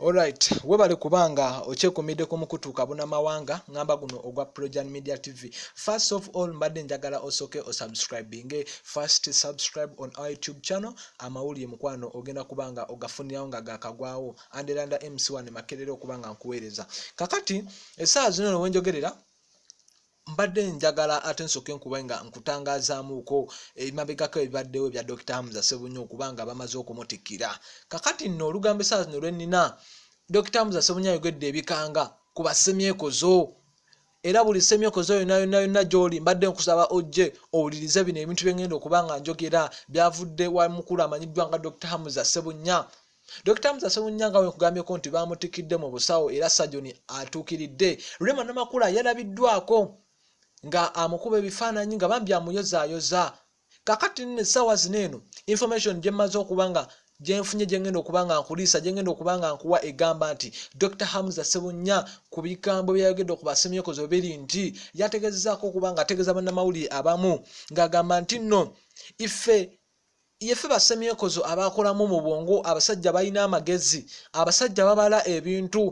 Alright, webale kubanga okyekumidde ku mukutu kabuna mawanga ngamba guno ogwa Projan Media TV. First of all, mbadde njagala osoke o subscribing. First subscribe on our YouTube channel. Amawulire mukwano ogenda kubanga ogafunirawo nga gakagwawo. Andelanda MC1 makerere okubanga nkuweereza. Kakati esaazi zino wenjogerera mbadde njagala ate nsooke nkuba nga nkutangazaamuuko ebimabegako ebibaddewo ebya dokita hamza sebunyo okuba nga bamaze okumutikira kakati nno olugambo esaa zino lwennina dokita hamza sebunyo ayogedde ebikanga ku basemyekozo era buli semyokozo yona yona yona gyoli mbadde nkusaba ojje owulirize bino ebintu byengenda okuba nga njogera byavudde wa mukulu amanyiddwa nga dr hamza sebunya Dr. Musa Sewunyanga we kugambyeko nti baamutikidde mu busawo era sajoni atuukiridde Rema Namakula yalabiddwako nga amukuba ebifaananyi nga bambi amuyozaayoza kakati nno essaawa zino eno information gye mmaze okuba nga gyenfunye gyengenda okuba nga nkuliisa gyengenda okuba nga nkuwa egamba nti dr hamza sebunya ku bigambo byeyayogedde ku basemyekozo biri nti yategezezaako okuba nga ategeeza bannamawulire abamu ng'agamba nti nno ife yefe basemyekozo abakolamu mu bwongo abasajja balina amagezi abasajja babala ebintu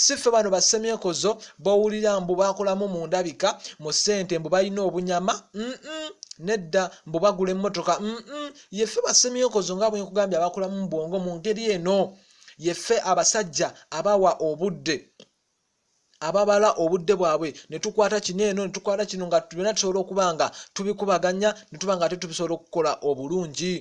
siffe bano basemyekozo bowulira mbu bakolamu mu ndabika mu ssente mbu balina obunyama mm -mm. nedda mbu bagula emmotoka mm -mm. yefe basemyekozo nga bwenkugambye abakolamu mu bwongo mu ngeri eno yefe abasajja abawa obudde ababala obudde bwabwe netukwata kino eno netukwata kino nga byona tusobola okuba nga tubikubaganya netuba nga ate tubisobola okukola obulungi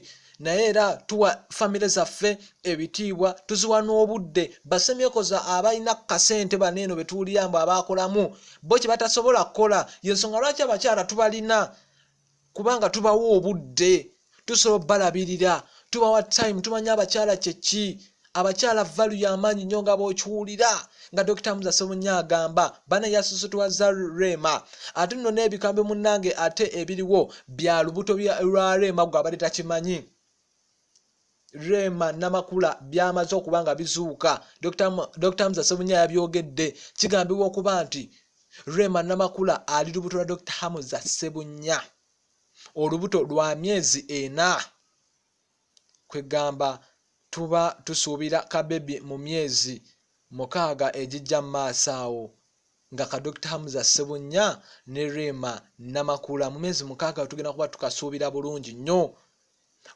naye era tuwa famire zaffe ebitiibwa tuziwa n'obudde basemyekoza abalina kasente bano eno betuwulira mbu abakolamu bo kyebatasobola kukola yensonga lwaki abakyala tubalina kubanga tubawa obudde tusobola obalabirira tubawa time tumanya abakyala kyeki abakyala valu yamaanyi nnyo nga bokiwulira nga dokita muza semunya agamba bana yasusutwaza rema ate nno n'ebikambi munnange ate ebiriwo bya lubuto lwa rema gwe abadde takimanyi rema namakula byamaze okuba nga bizuuka dr mza sebunya yabyogedde kigambibwa okuba nti rema namakula ali lubuto lwa dr hamuza sebunya olubuto lwa myezi ena kwegamba tuba tusuubira kabebi mu myezi mukaaga egijja mu maaso awo nga ka dr hamza sebunya ne rema namakula mu myezi mukaaga tugenda kuba tukasuubira bulungi nnyo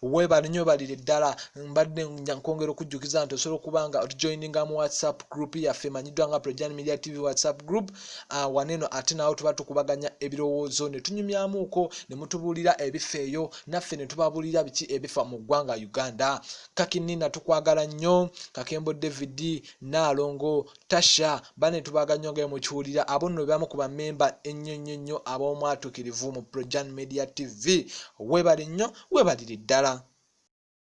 webale nyo balire ddala mbadde nkwongera okujjukiza nti osobola okuba nga otujoininga mu whatsapp group yaffe emanyiddwa nga projan media tv whatsapp group uh, waneno ate nawo tuba tukubaganya ebirowoozo ne tunyumyamuuko ne mutubuulira ebifa eyo naffe ne tubabuulira biki ebifa mu ggwanga uganda kakinina tukwagala nnyo kakembo david naalongo tasha bane tubaga nnyo nga mukiwulira abo nno bebamu ku bamemba ennyo nnyo nnyo ab'omwatukirivu mu projan media tv webale nnyo webalire ddala